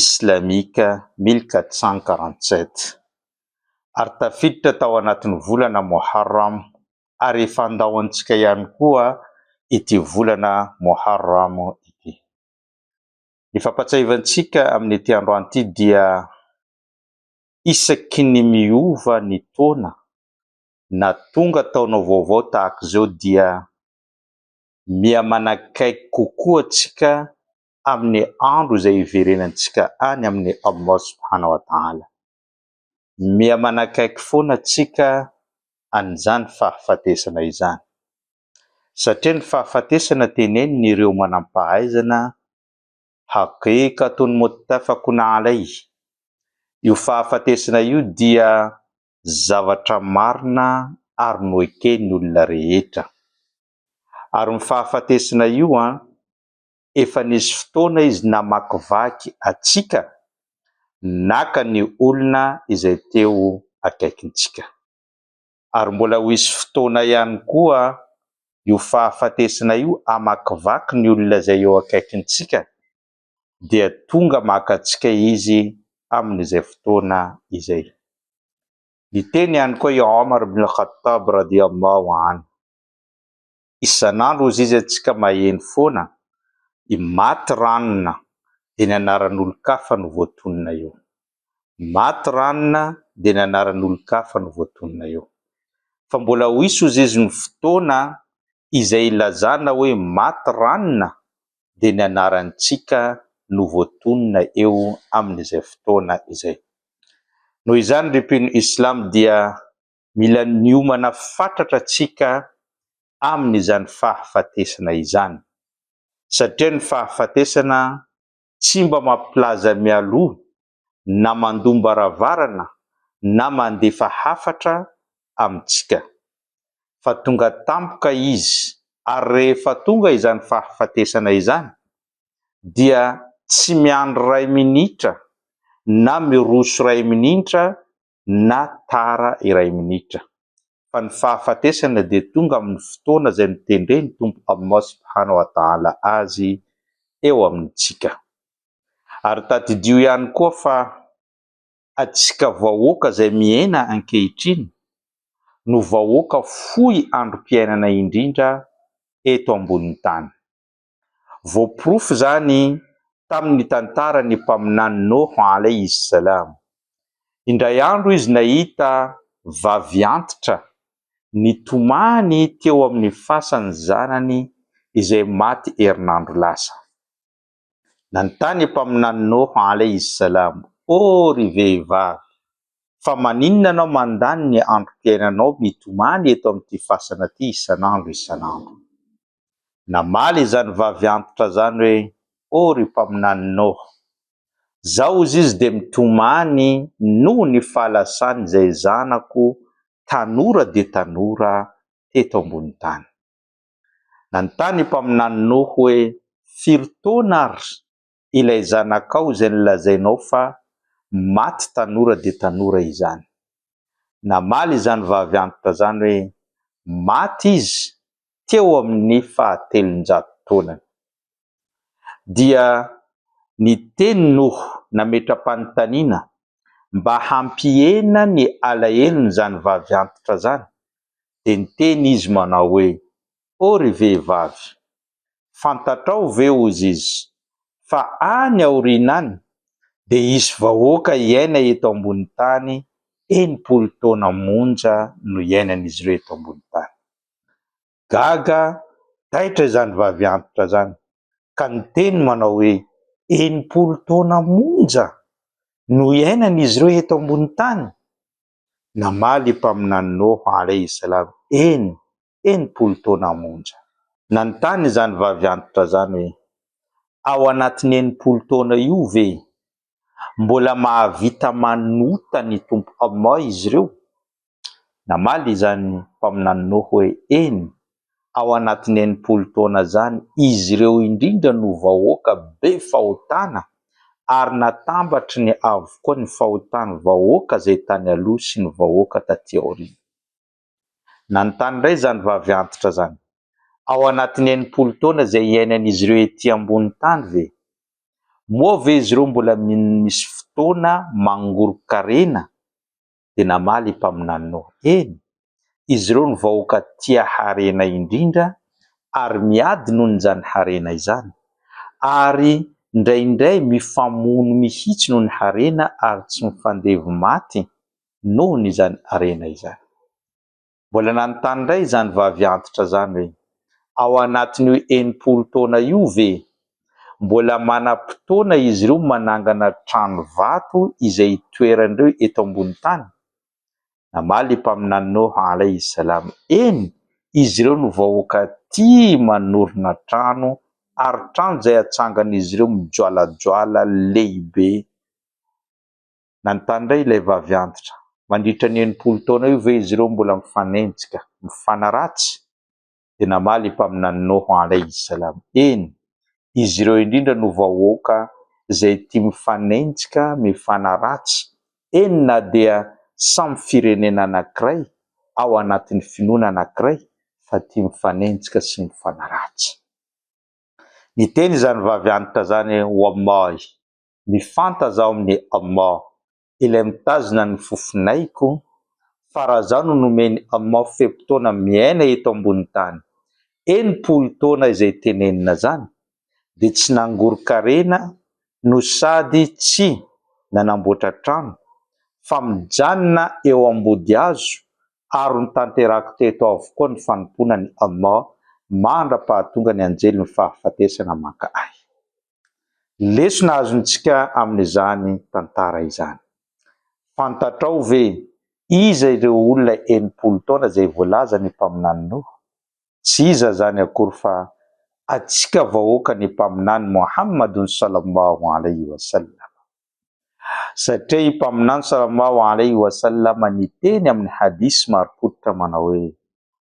Islamique mille quatre cent quarante sept ary tafiditra tao anatin'ny volana Moharram ary efa andao antsika ihany koa ity volana Moharram ity. Ny fampahatsiahiva antsika amin'ity androany ity dia isaky ny miova ny taona na tonga taona vaovao tahaka izao dia miha manakaiky kokoa antsika amin'ny andro izay hiverenantsika any amin'i Allah subhana wa taala. Miha manakaiky foana tsika an'izany fahafatesana izany. Satria ny fahafatesana tenenin'ireo manam-pahaizana, Haqiqatun muttafaqun alayh, io fahafatesana io dia zavatra marina ary noeken'ny olona rehetra. Ary ny fahafatesana io an, efa nisy fotoana izy namakivaky antsika, naka ny olona izay teo akaikintsika. Ary mbola ho hisy fotoana ihany koa io fahafatesana io hamakivaky ny olona izay eo akaikintsika, dia tonga maka antsika izy amin'izay fotoana izay. Niteny ihany koa i Omar bin Khattab radiyallahu anhu, isan'andro hozy izy antsika maheno foana i maty ranona dia ny anaran'olon-kafa no voatonona eo maty ranona dia ny anaran'olon-kafa no voatonona eo fa mbola ho hisy hozy izy ny fotoana izay ilazana hoe maty ranona dia ny anarantsika no voatonona eo amin'izay fotoana izay noho izany ry mpino islam dia Mila niomana fatratra tsika amin izany fahafatesana izany. Satria ny fahafatesana tsy mba mampilaza mialoha na mandoam-baravarana na mandefa hafatra amintsika. Fa tonga tampoka izy ary rehefa tonga izany fahafatesana izany dia tsy miandry ray minitra na miroso ray minintra na tara iray minitra, fa ny fahafatesana dia tonga amin'ny fotoana izay notendren'ny Tompo Allah Subhanahu wa Ta'ala azy eo amintsika. Ary tadidio ihany koa fa atsika vahoaka izay miaina ankehitriny no vahoaka fohy androm-piainana indrindra eto ambonin'ny tany. Voaporofo izany tamin' ny tantaran' ny Mpaminany Nôha alaihi s-Salam. Indray andro izy nahita vavy antitra nitomany teo amin' ny fasan' ny zanany izay maty herinandro lasa. Nanontany ny Mpaminany Nôha alaihi s-Salam, O ry vehivavy! Fa maninona ianao mandany ny androm-piainanao mitomany eto amin' ity fasana ity isan' andro isan' andro? Namaly izany vavy antitra izany hoe, Oh ry Mpaminany Noh! Zao hozy izy dia mitomany noho ny fahalasany izay zanako tanora dia tanora teto ambony tany. Nanontany i Mpaminany Noh hoe, Firy taona ary ilay zanakao izay nolazainao fa maty tanora dia tanora izany. Namaly izany vavy antitra izany hoe maty izy teo amin'ny fahatelonjato taonany. Dia niteny Noho nametra-panontaniana mba hampihena ny alahelon'izany vavy antitra izany dia niteny izy manao hoe, Oh ry vehivavy, Fantatrao ve, hozy izy, fa any aoriana any dia hisy vahoaka hiaina eto ambony tany enimpolo taona monja no iainan'izy ireo eto ambony tany? Gaga taitra izany vavy antitra izany ka niteny manao hoe, Enimpolo taona monja no hiainan'izy ireo eto ambony tany? Namaly i Mpaminany Noa, alaih salam, Eny, enimpolo taona monja. Nanontany izany vavy antitra izany hoe, Ao anatin'ny enimpolo taona io ve mbola mahavita manota ny Tompo Allah izy ireo? Namaly izany Mpaminany Noho hoe, Eny, ao anatin'ny enimpolo taona izany izy ireo indrindra no vahoaka be fahotana ary natambatriny avokoa ny fahotan'ny vahoaka izay tany aloha sy ny vahoaka taty aoriana. Nanontany indray izany vavy antitra izany, Ao anatin'ny enimpolo taona izay hiainan'izy ireo ety ambonin'ny tany ve? Moa ve izy ireo mbola mino misy fotoana mangoron-karena? Dia namaly i Mpaminany Noa, Eny! Izy ireo no vahoaka tia harena indrindra ary miady noho izany harena izany, ary indraindray mifamono mihitsy noho ny harena ary tsy mifandevo maty. nohon' izany harena izany. Mbola nanontany indray izany vavy antitra izany hoe, Ao anatin' io enimpolo taona io ve mbola manam-potoana izy ireo manangana trano vato izay hitoeran' ireo eto ambony tany? Namaly i Mpaminany Noha alaihi salam, Eny, izy ireo no vahoaka tia manorina trano ary trano izay atsangan' izy ireo mijoalajoala lehibe. Nanontany indray ilay vavy antitra, Mandritra ny enimpolo taona io ve izy ireo no mbola mifanenjika, mifanaratsy? Dia namaly i Mpaminany Noho, alaihi s-salam, Eny, izy ireo indrindra no vahoaka izay tia mifanenjika, mifanaratsy, eny na dia samy firenena anankiray, ao anatin'ny finoana anankiray, fa tia mifanenjika sy mifanaratsy. Niteny izany vavy antitra izany Wallahi! Mifantaza ao amin'i Allah. Ilay mitazona ny fofonaiko, fa raha izaho no nomen'i Allah fe-potoana miaina eto ambonin'ny tany, enimpolo taona izay tenenina izany, dia tsy nangoron-karena no sady tsy nanamboatra trano, fa mijanona eo ambody hazo, ary notanterahako teto avokoa ny fanompoana an'i Allah mandra-pahatonga ny anjelin'ny fahafatesana maka ahy. Lesona azontsika amin'izany tantara izany. Fantatrao ve iza ireo olona enimpolo taona izay voalazan'ny Mpaminany Noa? Tsy iza izany akory fa antsika vahoakan'ny Mpaminany Mohammad Sallallahu Alaihi Wasallam. Satria i Mpaminany Sallallahu Alaihi Wasallam niteny amin'ny hadith marim-pototra manao hoe,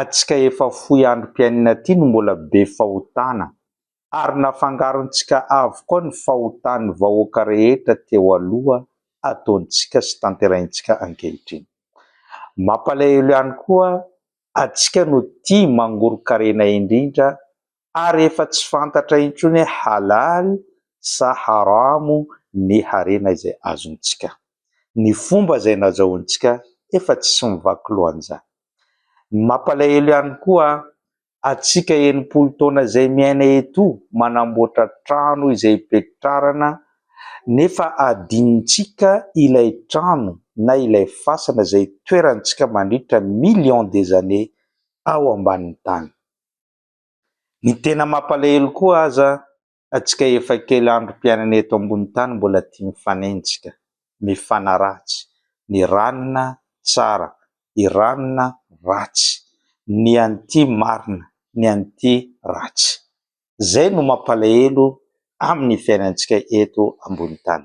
atsika efa fohy androm-piainana ity no mbola be fahotana, ary nafangarontsika avokoa ny fahotan'ny vahoaka rehetra teo aloha ataontsika sy tanterahintsika ankehitriny. Mampalahelo ihany koa atsika no tia mangoron-karena indrindra ary efa tsy fantatra intsony hoe halal sa haram ny harena izay azontsika. Ny fomba izay nazahoantsika efa tsisy mivaky loha an'izany. Ny mampalahelo ihany koa, antsika enimpolo taona izay miaina eto manamboatra trano izay ipetrarana nefa adinontsika ilay trano na ilay fasana izay itoerantsika mandritra millions des années ao ambanin'ny tany. Ny tena mampalahelo koa aza atsika efa kely andro mpiainana eto ambony tany mbola tia mifanenjika, mifanaratsy, ny ranona tsara, i ranona ratsy, ny an'ity marina, ny an'ity ratsy. Zay no mampalahelo amin'ny fiainantsika eto ambony tany.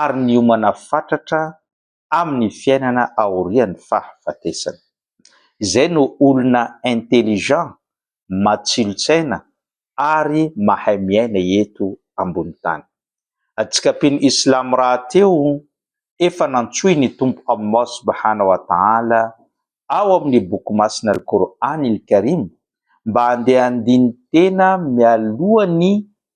ary niomana fatratra amin'ny fiainana aorian'ny fahafatesana. Izay no olona intelligent, matsilo-tsaina ary mahay miaina eto ambony tany. Atsikampin'ny Islam rahateo, efa nantsoin' ny Tompo Allah Subhana wa Ta'ala ao amin'ny Boky Masina Al-Qur'an Al-Karim mba handeha handini-tena mialoha ny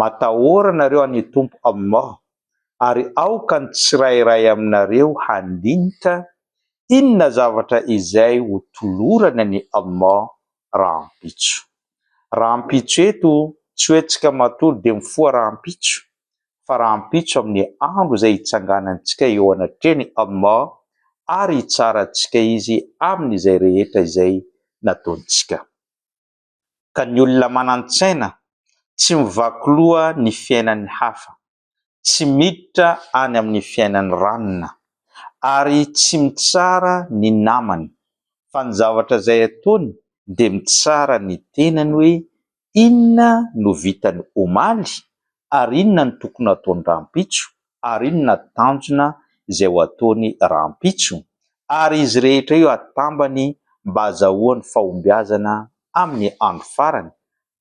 Matahora anareo an' i Tompo Allah, ary aoka ny tsirairay aminareo handinika inona zavatra izay ho tolorany an' i Allah rahampitso. Rahampitso eto tsy hoe tsika matory dia mifoha rahampitso, fa rahampitso amin' ny andro izay hitsanganantsika eo anatrehan' i Allah ary hitsara antsika Izy amin' izay rehetra izay nataontsika. ka ny olona manan-tsaina tsy mivaky loha ny fiainan'ny hafa, tsy miditra any amin'ny fiainan'ny ranona, ary tsy mitsara ny namany, fa ny zavatra izay ataony dia mitsara ny tenany hoe inona no vitany omaly ary inona no tokony hataony rahampitso ary inona tanjona izay ho ataony rahampitso ary izy rehetra io atambany mba azahoany fahombiazana amin'ny andro farany,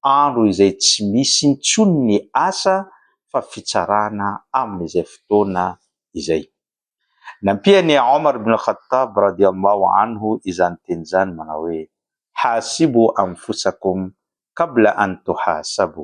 andro izay tsy misy intsony ny asa fa fitsarana amin'izay fotoana izay. Nampian'i Omar ibn al-Khattab radiyallahu anhu izany teny izany manao hoe, Hasibu anfusakum qabla an tuhasabu,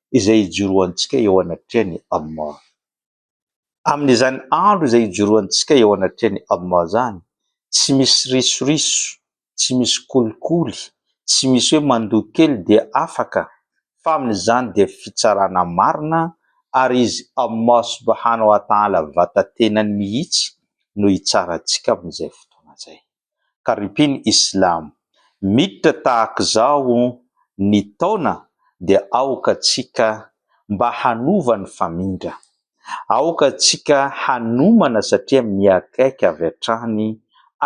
izay ijoroantsika eo anatrehan'i Allah. Amin'izany andro izay ijoroantsika eo anatrehan'i Allah izany, tsy misy risoriso, tsy misy kolikoly, tsy misy hoe mandoa kely dia afaka fa amin'izany dia fitsarana marina ary Izy Allah subhanahu wa ta'ala vata-tenany mihitsy no hitsara antsika amin'izay fotoana izay. Karipiny Islam. Miditra tahak'izao ny taona dia aoka tsika mba hanova ny famindra. Aoka tsika hanomana satria mihaikaika avy hatrany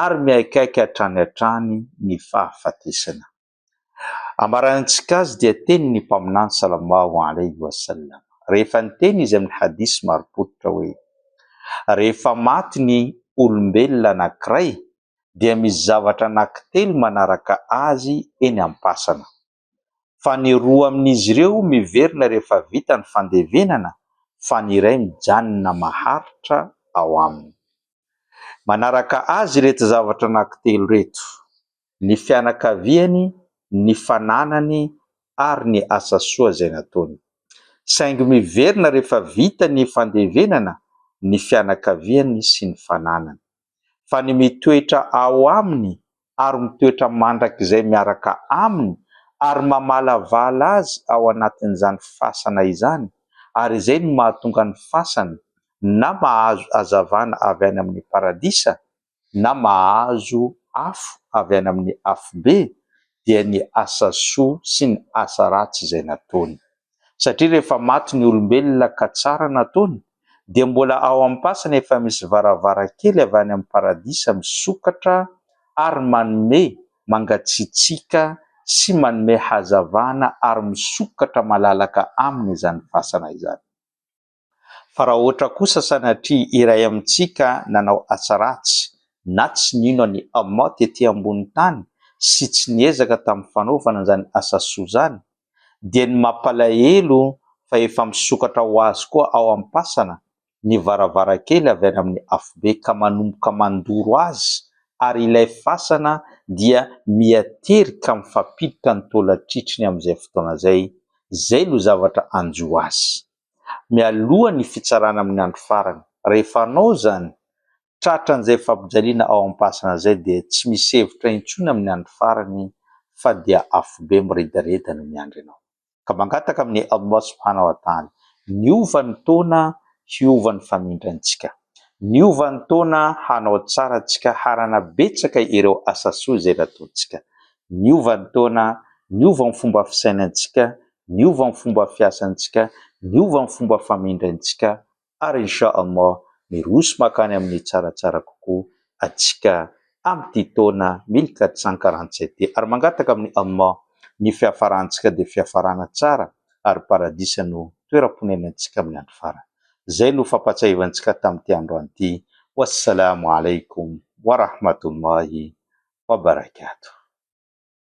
ary mihaikaika hatrany hatrany ny fahafatesana. Ambaran' ny Tsikazy dia teny ny Mpaminany Salallahu alaihi wa sallam rehefa niteny izy amin' ny hadis marim-pototra hoe, Rehefa maty ny olombelona anankiray dia misy zavatra anankitelo manaraka azy eny am-pasana, fa ny roa amin' izy ireo miverina rehefa vita ny fandevenana fa ny iray mijanona maharitra ao aminy. Manaraka azy ireto zavatra anankitelo ireto, ny fianakaviany, ny fananany ary ny asa soa izay nataony. Saingy miverina rehefa vita ny fandevenana ny fianakaviany sy ny fananany. Fa ny mitoetra ao aminy ary mitoetra mandrakizay miaraka aminy ary mamalavala azy ao anatin'izany fasana izany, ary izay no mahatonga ny fasana na mahazo hazavana avy any amin'ny paradisa, na mahazo afo avy any amin'ny afobe dia ny asa soa sy ny asa ratsy izay nataony. Satria rehefa maty ny olombelona ka tsara nataony dia mbola ao am-pasana efa misy varavarankely avy any amin'ny paradisa misokatra ary manome mangatsiatsiaka sy manome hazavana ary misokatra malalaka aminy izany fasana izany. Fa raha ohatra kosa sanatria iray amintsika nanao asa ratsy na tsy nino an'i Allah tety ambony tany sy tsy niezaka tamin'ny fanaovana izany asa soa izany, dia ny mampalahelo fa efa misokatra ho azy koa ao am-pasana ny varavarankely avy any amin'ny Afobe ka manomboka mandoro azy ary ilay fasana dia miaterika mifampiditra ny taolatritry ny amin'izay fotoana izay, izay no zavatra hanjo azy. mialoha ny fitsarana amin'ny andro farany. Rehefa hanao izany, tratra an'izay fampijaliana ao am-pasana izay dia tsy misy hevitra intsony amin'ny andro farany fa dia afobe miredareda no miandry anao. Ka mangataka amin'i Allah subhanahu wa ta'âlâ niova ny taona hiova ny famindrantsika. Niova ny taona hanao tsara antsika hanana betsaka ireo asa soa izay nataontsika. Niova ny taona, niova ny fomba fisainantsika, niova ny fomba fiasantsika, niova ny fomba famindrantsika ary Insha Allah miroso makany amin'ny tsaratsara kokoa atsika amin'ity taona mille quatre cent quarante sept ty ary mangataka amin'i Allah ny fiafarantsika dia fiafarana tsara ary paradisa no toeram-ponenantsika amin'ny andro farany. Izay no fampatsiahivantsika tamin'ity androany ity. Wassalamo Alaikum Warahmatullahi Wabarakatuh.